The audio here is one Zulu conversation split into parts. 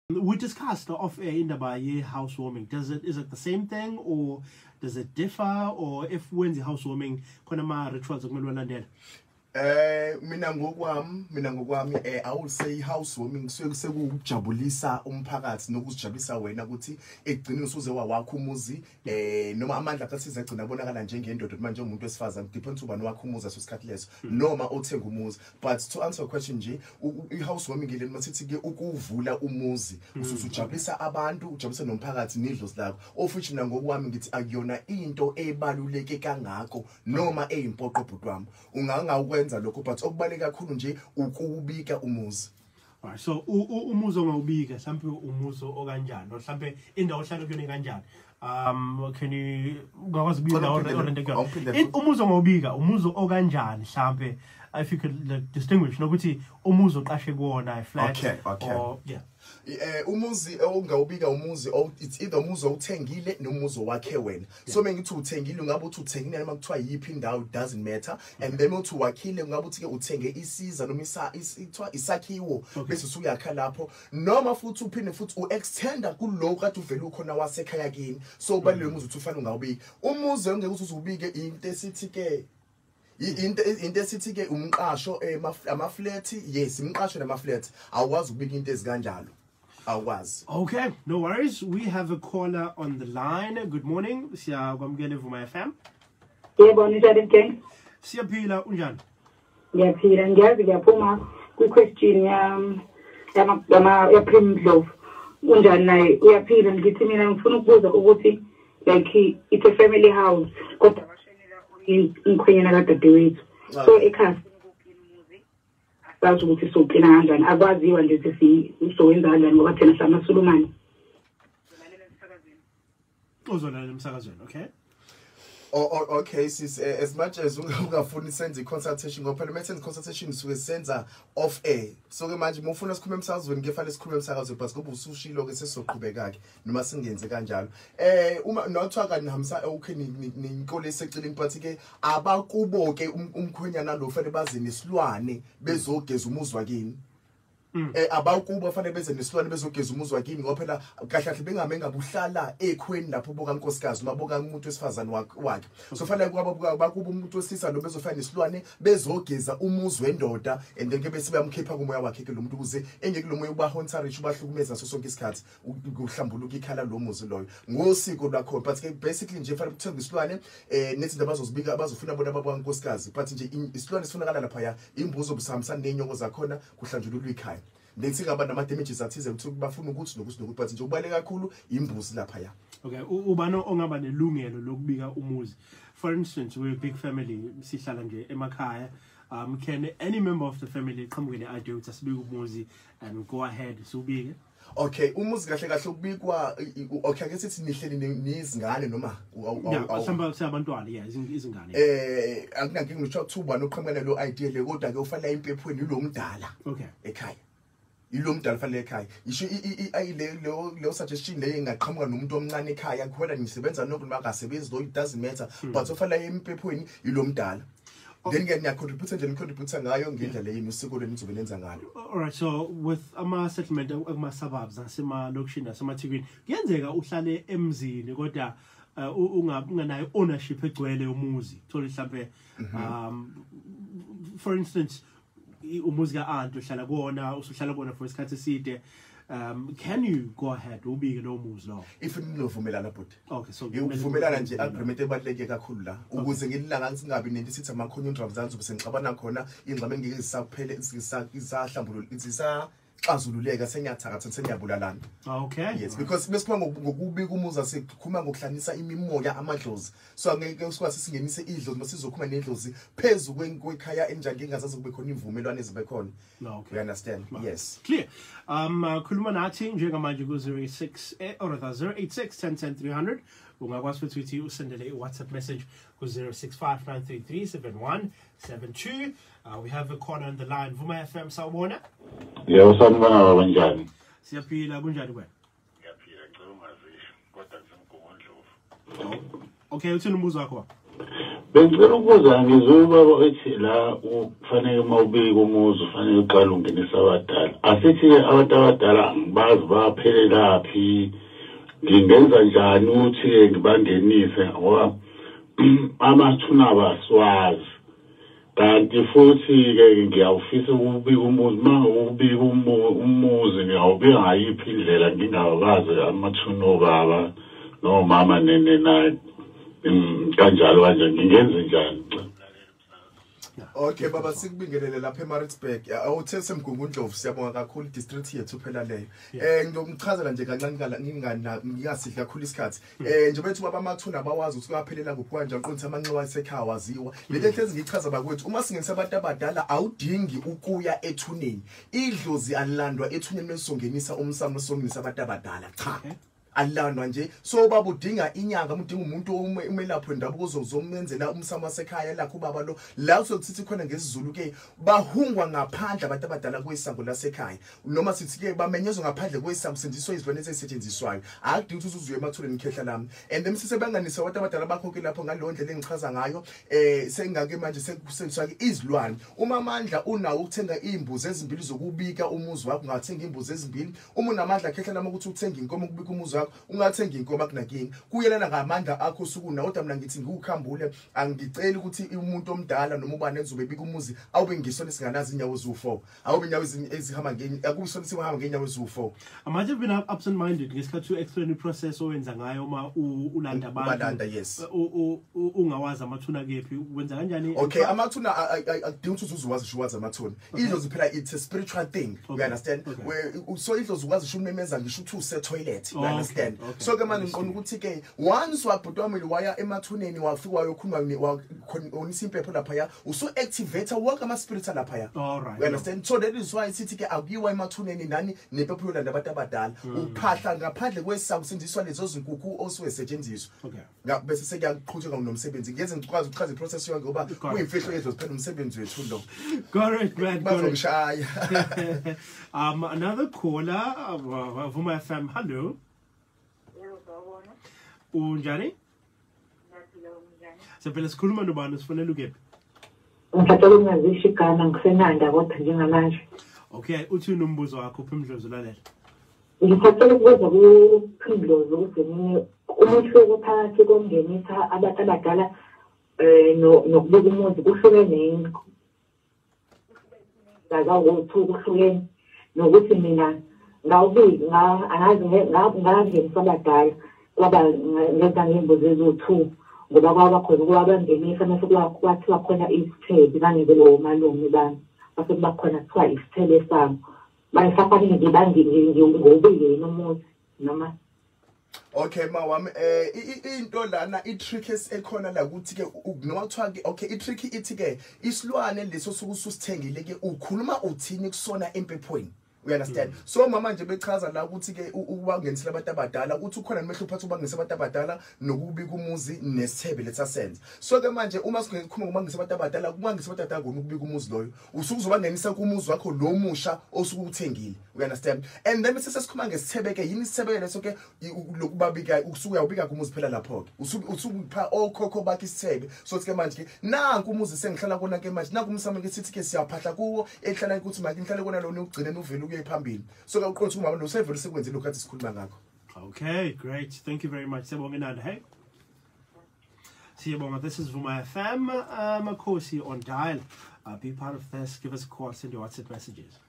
We discussed off air in the Baye housewarming. Does it is it the same thing or does it differ or if when's the housewarming khona ma rituals okumele walandela? Eh mina ngokwami mina ngokwami eh I will say housewarming kusuke sekujabulisa umphakathi nokuzijabulisa wena ukuthi ekugcineni usuze wawakho umuzi eh noma amandla akhe size gcina abonakala njengendoda manje umuntu wesifazane depends ubani wakhe umuzi asosikhathi leso hmm. noma othenga umuzi but to answer your question nje i-house warming ile noma sithi ke ukuvula umuzi hmm. usuzujabulisa abantu ujabulisa nomphakathi nidlo silakho of which mina ngokwami ngithi akuyona into ebaluleke kangako noma eyimpoqo bhuti wami ungangawukwenza lokho but okubaleka kakhulu nje ukubika umuzi Right, so umuzo ngawubika mhlampe umuzo okanjani mhlampe indawo ohlala kuyona kanjani um can you ngakwazi ubika indawo orente kuyona umuzo ngawubika umuzo okanjani mhlampe if you could like, distinguish nokuthi umuzi oqashe kuwona flat okay, okay. or yeah eh umuzi ongawubika umuzi it's either umuzi owuthengile nomuzi owakhe wena so uma ngithi uthengile ungabe uthi uthengile noma kuthiwa yiphi indawo doesn't matter and then uthi wakhile ungabe uthi-ke uthenge isiza noma kuthiwa isakhiwo bese usuyakha lapho noma futhi uphinde futhi u-extenda kulowo kade uvele ukhona wasekhaya kini so ubaluleke mm. umuzi uthi ufanele ungawubiki umuzi ongeke uthi uzubike into esithi-ke into into esithi ke umqasho eh, ama flat yes imqasho nama flat awukwazi ukubika into ezikanjalo awukwazi okay no worries we have a caller on the line good morning siyakwamukela evuma FM yebo ninjani mgenge siyaphila unjani ngiyaphila ngiyazi ngiyaphuma kwi question yam yama yama ya prim glove unjani naye uyaphila ngithi mina ngifuna ukubuza ukuthi like it's a family house kodwa bashenela umkhwenyana kadadewethu so ekhaya sazi ukuthi soklina kanjani akwaziwa nje ukuthi sizowenza kanjani ngoba thina samasulumane uzolalela emsakazweni okay Oh, oh, okay sis eh, as much as ungafuni senze i-consultation ngoba phela mesenze i-consultation suke senza off air so ke manje uma ufuna sikhulume emsakazweni kefale sikhulume emsakazweni but kube usushilo-ke sesizoqhubeka-ke noma singenze kanjalo eh uma nothiwa kanti nihambisa okay ninkole eseceleni but ke abakubo ke um, umkhwenyana lo fanele baze nesilwane bezogeza umuzwa kini mm. eh abakubo fanele beze nesilwane bezogeza umuzwa kini ngoba phela kahle kahle bengame ngabuhlala ekhweni lapho boka nkosikazi noma boka umuntu wesifazane wakhe so fanele kwaba bakubo umuntu wesisa lo bezofana nesilwane bezogeza umuzwe endoda and then ke bese bayamkhipha kumoya wakhe ke lo muntu ukuze engeke lo moya ubahonsa rich ubahlukumeza so sonke isikhathi kuhlambuluka ikhala lo muzi loyo ngosiko lwakho but ke basically nje fanele kuthenga isilwane eh nezinto abazozibika abazofuna bona baba nkosikazi but nje isilwane sifunakala lapha ya imbuzo obusihambisana nenyoko zakhona kuhlanjululwa ikhaya nethi ngaba nama damages athize ukuthi bafuna ukuthi nokuthi nokuthi but nje ubale kakhulu imbuzi lapha ya okay ubani ongaba nelungelo lokubika umuzi for instance we big family sihlala nje emakhaya um can any member of the family qhamuke ne idea ukuthi asibike umuzi and go ahead siwubike Okay umuzi kahle kahle ukubikwa okay ake sithi nihleli nizingane noma mhlawumbe siyabantwana yeah izingane eh akunankinga ngithiwa kuthiwa ubani oqhamuka lo idea le kodwa ke ufanele impephweni lo mdala okay ekhaya yilo mdala fanele ekhaya yisho ayile leyo leyo suggestion leyo ingaqhamuka nomuntu omncane ekhaya kukhona ngisebenza nokuntu makasebenzi though it doesn't matter hmm. but ofanele empephweni yilo mdala then ke niyacontribute nje nicontribute ngayo ngendlela yenu usiko lenu nizobe lenza ngalo all right so with ama settlement akuma suburbs asema location asema thikwini kuyenzeka uhlale emzini kodwa uh, unganayo ownership egcwele yomuzi thola mhlambe mhm. um for instance umuzi ka aunt uhlala kuona usuhlala kuona for isikhathi eside um can you go ahead ubike no muzi lo if ninovumelana bhuti okay so ngivumelana nje agreement ebaleke kakhulu la ukuze ngililanga ngingabi nento sithi ama conundrum zanzu bese ngixabana khona ingxabene ngeke zisaphele ngisahlambulula ngisisa xazululeka sengiyathakatha sengiyabulalana ah, okay yes because besikhuluma ngokubi kumuza sikhuluma ngokuhlanisa imimoya amadlozi so angeke usikwasi singenise idlozi masizokhuluma nedlozi phezu kwekhaya enjani ngingazazi kube khona imvumelwano ezibe khona ah, okay you understand Ma. yes clear um uh, khuluma nathi njengamanje ku 06 eh, or 08610300 ungakwazi futhi ukuthi usendele i-whatsapp message ku 0659337172 Uh, we have a caller on the line. Vuma FM, sawubona? Yebo, yeah, sanibona baba kunjani? Siyaphila, kunjani kwena? Ngiyaphila, ngicela ungazisho kodwa ngisemgungundlovu. Okay, uthini umbuzo wakho baba? Bengicela ukubuza ngizwe ubaba ethi la ufanele uma ubika umuzi ufanele uqale ungenisa abadala. Asithi-ke abantu abadala angibazi baphelelaphi ngingenza njani ukuthi-ke ngibangenise ngoba amathuna abasiwazi. kanti futhi-ke ngiyawufisa ukubika umuzi uma ngokubika umuzi ngiyawubika ngayiphi indlela ngingabazi amathuni obaba nomama nene naye mm, kanjalo kanje ngingenze njani Okay baba sikubingelele lapha eMaritzburg. Awuthe semgungundlovu siyabonga kakhulu district yethu phela leyo. Eh ngiyomchazela nje kancane kala ngingana ngiyasidla kakhulu isikhathi. Hmm. Eh nje bethu baba mathuna abawazi ukuthi kuyaphelela kuphi kanje aqondisa amanxiwa esekhaya waziwa. Le hmm. nto engichaza bakwethu uma singenisa abantu abadala awudingi ukuya ethuneni. Idlozi alilandwa ethuneni mesongenisa umsamo songenisa abantu abadala. Cha. Okay. alandwa nje so baba udinga inyanga udinga umuntu umelaphi wendabuko uzomenzela umsamo wasekhaya lakho ubaba lo la uzokuthi khona ngesizulu ke bahungwa ngaphandle abantu abadala kwesango lasekhaya noma sithi-ke bamenyezwe ngaphandle kwesakusetshenziswa izilwane ezisetshenziswayo akudingi ukuthi uzuzuye emathuleni khehla lami and then sisebanganise abantu abadala bakho-ke lapho ngaleyo ndlela engichaza ngayo um sengake manje sekusebenziswa-ke izilwane uma amandla unawo ukuthenga iy'mbuzi ezimbili zokubika umuzi wakho ungathenga iy'mbuzi ezimbili uma unamandla khehla lami ukuthi uthenge inkomo ukubika umuzi wakho ungathenga inkomo akunakingi kuyelana ngamandla akho osuku nawo kodwa mina ngithi ngiwukhambule angiceli ukuthi umuntu omdala noma ubani enzobe bika umuzi awube ngisona esinganazi inyawo ziwu-four awube inyawo ezihamba akuso ukuthi uhamba ngenyawo eziwu-four i might have been absent minded ngesikhathi u-explain i-process owenza ngayo uma ulanda abantubalanda yes ungawazi amathuna kephi wenza kanjani okay amathuna akudingi ukuthi uzuze wazi sho wazi amathuna idlozi phela it's a spiritual thing you understand so idlozi ukwazi sho umemeza ngisho ukuthi usetoilet you understand so ke manje ngiqonda ukuthi-ke once wabhuti wamile waya emathuneni wafika wayokhuluma khonisa impepho laphaya usu activate wonke ama spirits alapha ya all right you understand so that is why sithi ke akuyiwa emathuneni nani nepepho yolanda abantu abadala mm. uphahla ngaphandle kwesaku sindiswa lezo zinkukhu osuwe setshenziswa okay bese sekuyakuqhutsheka nomsebenzi ngeze ngikwazi ukuchaza iprocess yonke ngoba kuyimfihlo yethu siphela umsebenzi wethu lo correct man bazongishaya um another caller uh, vuma fm hello unjani Siyaphila sikhuluma nobani sifonela ukephi? Ngicela ukungazisho igama ngisenanda kodwa njengamanje. Okay, uthi unombuzo wakho uphimdlozi lalela. Ngicela ukubuza kuphimdlozi ukuthi mina umehluko phakathi kongenisa abantu abadala eh nokubika umuzi kuhlukene yini? ngazawuthi ukuhlukeni nokuthi mina ngawubili angazi ngangenisa abadala kwaba ngenza ngey'mbuzi eziwu-two ngoba kwaba khona ukuba bangenisa mase kwathiwa khona isithebe bangeke lowo malume bami mase kuba khona kuthiwa isithebe sabo bayisafanele nje bangiwubile yini umuzi noma Okay mawami eh into lana i trick ekhona la ukuthi ke noma kuthiwa ke okay i trick ithi ke isilwane leso sokusithengile ke ukhuluma uthini kusona empephweni you understand mm. so mama nje bechaza la ukuthi ke ubangenisela abantu abadala ukuthi ukhona nomehlo uphatha ubangenisa abantu abadala nokubi kumuzi nesithebe lethasenza so ke manje uma singekhuluma ngobangenisa abantu abadala kubangisa abantu abadala ngokubi kumuzi loyo usuke uzobangenisa kumuzi wakho lo musha osuke uthengile you understand and then bese sesikhuluma ngesithebeke yini isithebeke leso ke lokubabika usuke uyawubika kumuzi phela lapho ke usuke usuke upha okhokho bakhe isithebe so ke manje ke nanku umuzi sengihlala kona ke manje nanku umsamo ke sithi ke siyaphahla kuwo ehlala ukuthi manje ngihlale kona lona ugcine uvele ukuye phambili so ke uqonda ukuthi umama lo sevele sekwenzile lokho athi sikhuluma ngakho okay great thank you very much sebongenanda hey Siyabonga, this is Vuma FM, uh, Makosi on dial. Uh, be part of this, give us a call, send your WhatsApp messages.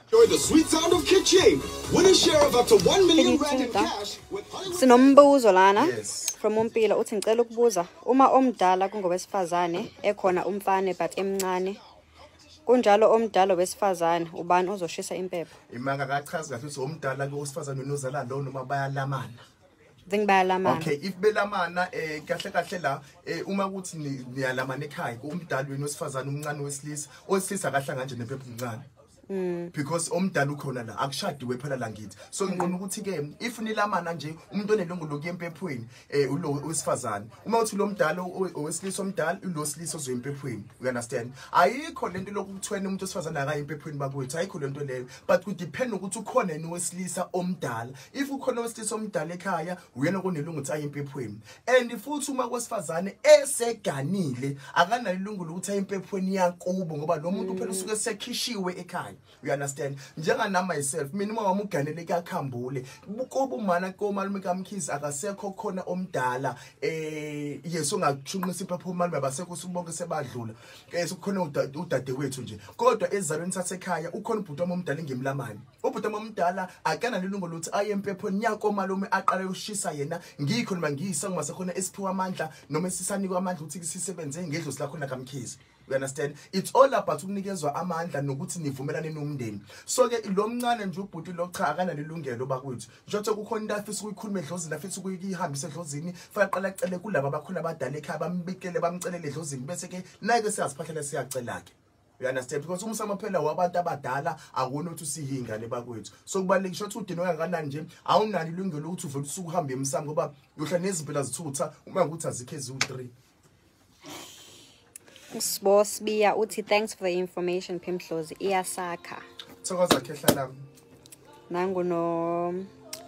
Enjoy the sweet sound of kitchen. Win a share of up to 1 million rand in cash with Sinombuzo lana yes. from Umpila uthi ngicela ukubuza uma omdala kungowesifazane ekhona umfane but emncane kunjalo omdala wesifazane ubani ozoshisa impepho imaka akachazi kahle ukuthi omdala ke usifazane unozala lo noma bayalamana Ngicela bayalamana. Okay, if belamana eh kahle kahle la eh uma kuthi niyalamana ekhaya kumdali wenu osifazana umncane wesilisa, osilisa kahle kanje nephepha umncane. Mm. because omdala ukhona la akushadiwe phela la ngithi so mm. ngiqona ukuthi ke if nilamana nje umuntu onelungu lokuyempephweni eh ulo wesifazane uma uthi lo mdala owesilisa omdala ulo silisa ozoyempephweni you understand ayikho lento lokuthwena umuntu osifazane akayempephweni bakwethu ayikho lento leyo but ku depend ukuthi ukhona yini wesilisa omdala if ukhona owesilisa omdala ekhaya uyena konelungu ukuthi aye empephweni and futhi uma kwesifazane eseganile akanalo ilungu lokuthi aye empephweni yakubo ngoba lo muntu phela usuke sekhishiwe ekhaya you understand njenganami myself mina uma wami uganele kuyakhambule kubo umana komalume kamkhizi akasekho khona omdala eh yeso ngakushunqisa iphapho umalume abasekho sibonke sebadlula eh sekukhona udadewethu nje kodwa ezalweni sasekhaya ukhona ubhuti wami omdala ngemlamani ubhuti omdala akanalo ilungu lokuthi aye empephweni yakomalume aqale ushisa yena ngikho noma ngiyisa ngoma sekhona esiphiwa amandla noma esisanikwa amandla ukuthi sisebenze ngedlozi lakho nakamkhizi you understand it's all about ukunikezwa amandla nokuthi nivumelane nomndeni so ke lo mncane nje ubhuti lo cha akanalo ilungelo bakwethu njengothi kukhona into afisa ukuyikhuluma edlozini afisa ukuyihambisa edlozini fanele qala cele kulabo abakhona abadala ekhaya bambikele bamcelele edlozini bese ke naye ke siyaziphahlela siyacela ke you understand because umsamo phela wabantu abadala akona ukuthi usiyingane bakwethu so kubalulekile ukuthi udini oyakanani nje awunalo ilungelo lokuthi uvele usuku uhambe emsamo ngoba yohla nezimpela zithutha uma ukuthi azikho eziwu-3 usibo sibiya uthi thanks for the information phimdlozi iyasakha thokoza khehla lami nangu no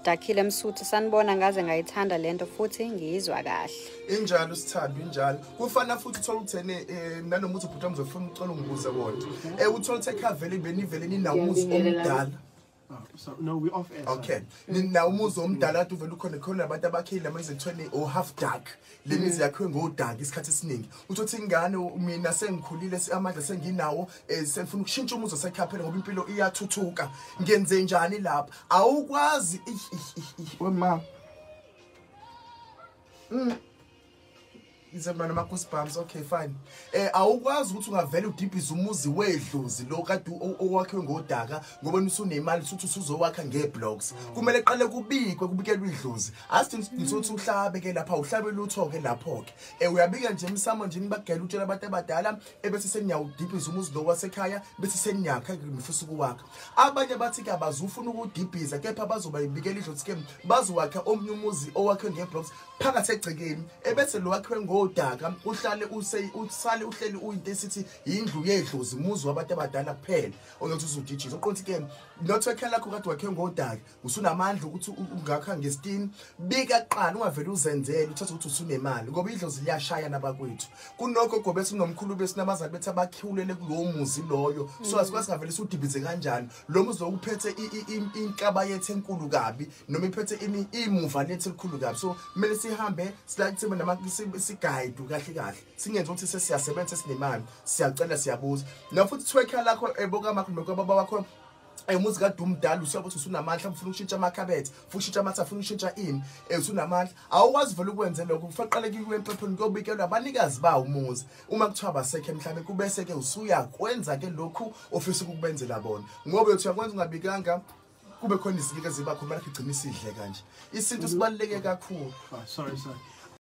dakhile msuthu sanibona ngaze ngayithanda lento futhi ngiyizwa kahle injalo usithando injalo kufana futhi uthola ukuthene eh, nanoma uthi ubhuti amzofuna ucela ungibuze kodwa eh uthola ukuthi ekhavele benivele ninawo umuzi omdala ah, So, no, we off air. Okay. Nina umuzi omdala ade uvela ukhona khona abantu abakhile ama izithweni o half dark. le mizi yakhiwe ngodaki isikhathi esiningi uthi uthi ingane mina sengikhulile amandla senginawo eh, sengifuna ukushintsha umuzi osekhaphela ngoba impilo iyathuthuka ngenze njani lapha awukwazi wema mm. ize mna nama-goosebumps okay fine eh awukwazi ukuthi ungavele udibhize umuzi wedlozi lo kade owakhiwe ngodaka ngoba usunemali usuthi usuzowakha ngeblocks kumele qale kubikwe kubikelwe idlozi asithi ngisuthi uhlabe ke lapha uhlabe lutho ke lapho ke eh uyabika nje emsamo nje nibagela utshela abantu abadala ebese seniyawudibhiza umuzi lo wasekhaya bese seniyakha ngifisa ukuwakha abanye bathi ke abazufuna ukudibhiza kepha bazoba ibikela idlozi ke bazowakha omnye umuzi owakhe ngeblocks phakathi egcekeni ebese lo wakhiwe ngodaka uhlale usale uhleli uyinto esithi yindlu yedlozi muzi wabantu abadala kuphela oyothi uzudijisa uqonthi ke not ekhela lakho kade wakhe ngodaka usunamandla ukuthi ungakha ngestini bika qala ungavele uzenzele uthathe ukuthi usunemali ngoba idlozi liyashaya nabakwethu kunokho gobe sinomkhulu besinabazali bethi abakhiwulele kulowo muzi loyo so asikwazi ngavele siwudibize kanjani lo muzi wawuphethe inkaba yethu enkulu kabi noma iphethe imuva lethu elikhulu kabi so kumele sihambe silakuthimbe nama sigayide kahle kahle singenzi ukuthi sesiyasebenza sesinemali siyacela siyabuza noma futhi thwekha lakho ebokamakho noma kwababa wakho umuzi kade umdala usuya ukuthi usunamandla ufuna ukushintsha amakhabethe ufuna ukushintsha amatha ufuna ukushintsha ini um usunamandla awukwazi vele ukwenze lokho kufanele qale kuyiwe empepheni kuyobikelwa abanikazi bawo umuzi uma kuthiwa basekhe mhlawumbe kubese ke usuyakwenza ke lokhu ofisa ukubenzela bona ngoba uthi uyakwenza ungabikanga kube khona izinto eziba khona lakhe igcina isidle kanje isintu sibaluleke kakhulu ah, sorry sorry